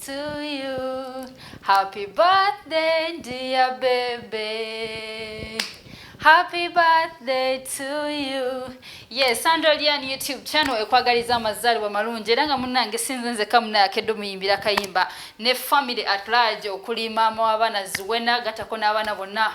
to you. Happy birthday, dear baby. Happy birthday to you. Yes, Sandra Lian YouTube channel ekwagaliza amazalibwa malungi era nga munnange sinze nzekka munnaye akedde omuyimbira kayimba ne family at large okuli maama w'abaana Zuwena gatako n'abaana bonna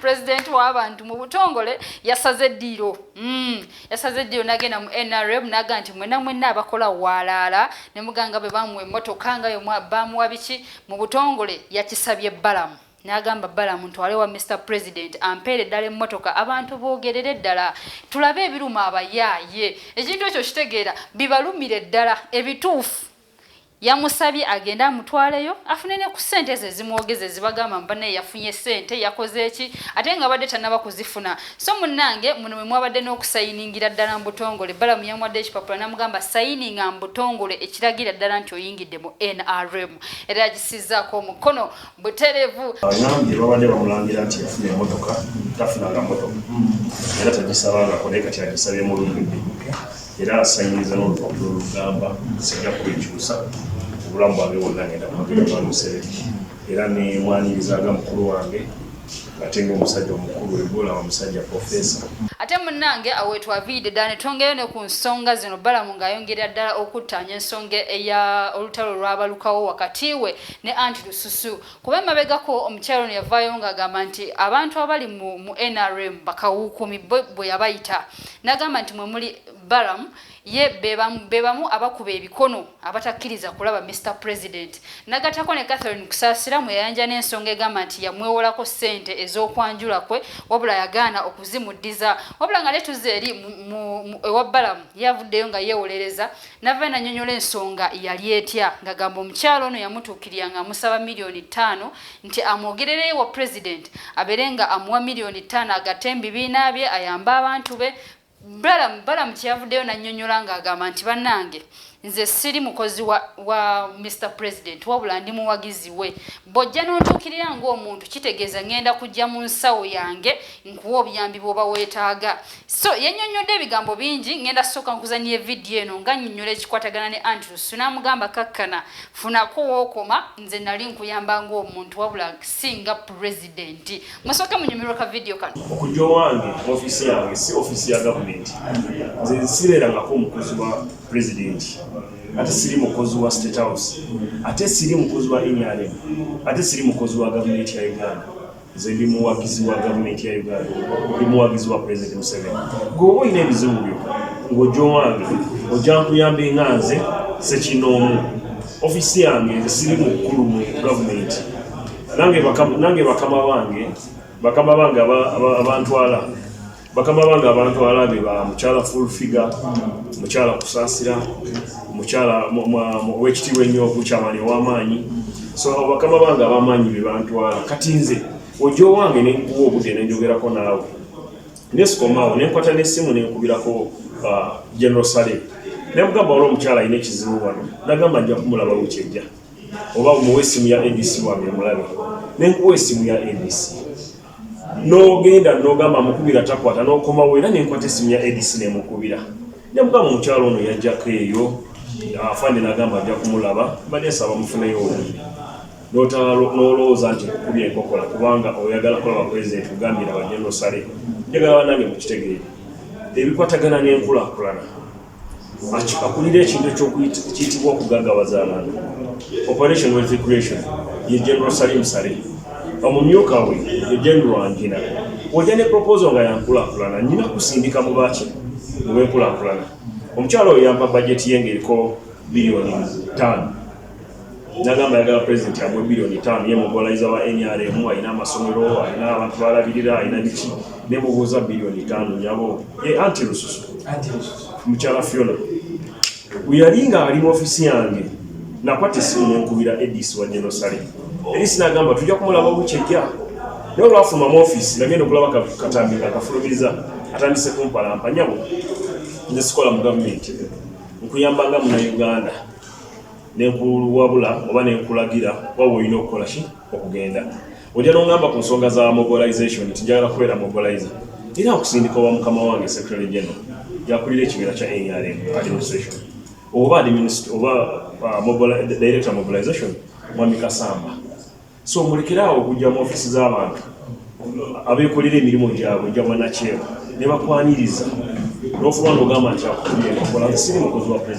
president w'abantu mu butongole yasaze eddiiro mm. yasaze eddiiro nagenda mu nrm naga nti mwena mwena abakola waalaala ne muganga bwe bamuwa emmotoka nga yo bamuwa biki mu butongole yakisabye balamu n'agamba bala muntu wale wa mr president ampeere ddala emmotoka abantu boogerere ddala tulabe ebiruma abayaaye ekintu ekyo kitegeera bibalumire ddala ebituufu yamusabye agende amutwaleyo afune ne ku ssente ezo ezimwogeza ezibagamba mbanaye yafunye ssente yakoze eki ate nga abadde tanaba kuzifuna so munnange muno mwe mwabadde n'okusayiningira ddala mu butongole balamu yamwadde ekipapula namugamba sayininga mu butongole ekiragira ddala nti oyingidde mu nrm era yagisizaako omukono buterevu. Agambye babadde bamulangira nti yafuna emotoka tafunanga motoka era tagisabangako naye kati agisabye mu lumbi era asanyiriza n'olupapula olugamba sijja kubikyusa obulamu bwange bwonna ngenda kumagera gwa Museveni era nemwanirizanga mukulu wange ate ngaomusajja omukulu ebola omusajja profesa ate munange awetwaviide ddala ne twongeyo ne ku nsonga zino balamu ng'ayongerera ddala okuttaanya ensonga eya olutalo olwabalukawo wakati we ne anti lususu kuba emabegako omukyalo ono yavaayo ng'agamba nti abantu abali mu, mu nrm bakawuukumi bwe yabayita n'agamba nti mwe muli balam ye be bamu abakuba ebikono abatakkiriza kulaba mr president nagatako ne catherine kusaasira mwe yayanja n'ensonga egamba nti yamwewolako ssente ez'okwanjula kwe wabula yagaana okuzimuddiza wabula nga ne tuze eri ewa balamu yavuddeyo nga yeewolereza nava nanyonyola ensonga yali etya ngagamba omukyalo ono yamutuukirira nga amusaba miliyoni ttaano nti amwogerereyo wa pulezidenti abeere nga amuwa miliyoni ttaano agate mubibiina bye ayambe abantu be balamu balamu kyeyavuddeyo nanyonyola ngaagamba nti bannange nze siri mukozi wa, wa mr president wabula ndi muwagizi we Bw'ojja n'ontuukirira ng'omuntu kitegeeza ngenda kujja mu nsawo yange nkuwa obuyambi bw'oba weetaaga. So yannyonnyodde ebigambo bingi ngenda kusooka nkuzannyire vidiyo eno nga nnyonnyola ekikwatagana ne Andrews n'amugamba kakkana funako wookoma nze nali nkuyamba ng'omuntu wabula si nga pulezidenti. Musooke munyumirwe ka vidiyo kano. Okujja owange mu ofiisi yange si ofiisi ya gavumenti. Nze nsibeerangako omukozi wa pulezidenti. ate siri mukozi wa state house ate siri mukozi wa nrm ate siri mukozi wa gavumenti ya uganda nze ndi muwagizi wa gavumenti ya uganda ndi muwagizi wa president museveni gweoba olina ebizibu byo ng'oja owange oja nkuyamba enga nze sekinoomu ofisi yange nze siri mukulu mu gavumenti nange bakama bange bakama bange abantwala bakama bange abantu alabye ba mukyala full figure mukyala kusasira mukyala owekitiibwa ennyo mukyamani owamaanyi so bakama bange abamaanyi bebantwala kati nze ojja owange nenkuwa obudde nenjogerako naawe nesikomaawo nenkwata nesimu nenkubirako uh, general sale nemugamba wali omukyala alina ekizibu wano nagamba nja kumulaba wekyejja oba muwa esimu ya abc wange mulabe nenkuwa esimu ya abc n'ogenda n'ogamba amukubira takwata n'okomawo era nenkwata esimu ya edc nemukubira nemugamba omukyalo ono yajjako eyo afande nagamba ajja kumulaba mbadde nsaba mufuneyo obubi nolowooza nti kukubya enkokola kubanga oyagala kulaba president kugambira bajenosale njagala banange mukitegeere ebikwatagana n'enkulakulana akulira ekintu ekyokiyitibwa okugagawaza abantu operation wealth creation ye general salim sale omumyuka we ye general angina oja ne proposal nga yankulakulana nyina kusindika mu baki mubenkulakulana omukyalo oyo yampa bajeti ye ngaeriko biliyoni tano nagamba yagala president amwe milioni tano ye mugolaiza wa nrm alina amasomero alina abantu balabirira alina biki nemubuuza milioni tano nyabo ye anti lususu mukyala fiona weyali nga ali mu ofisi yange nakwata esimu nenkubira edis wa genosale edis nagamba tujja kumulaba bukyejja naye olwafuluma mu ofisi nagenda okulaba katambi nga kafulumiriza atandise kumpalampa nyabo nze sikola mu gavumenti nkuyambanga munauganda nenkuluwabula oba nenkulagira oba woyina okukola ki okugenda oja nongamba ku nsonga za mobilization nti njagala kubeera mobilizer era nkusindika owa mukama wange secretary general yakulira ekibira kya nrm administration oba oba uh, director mobilization mwami kasamba so mulekerawo okujja mu ofisi z'abantu abekolera emirimu gyabwe gyabanakyewa nebakwaniriza nofuba nogamba nti akutuye nkola siri mukozi wa president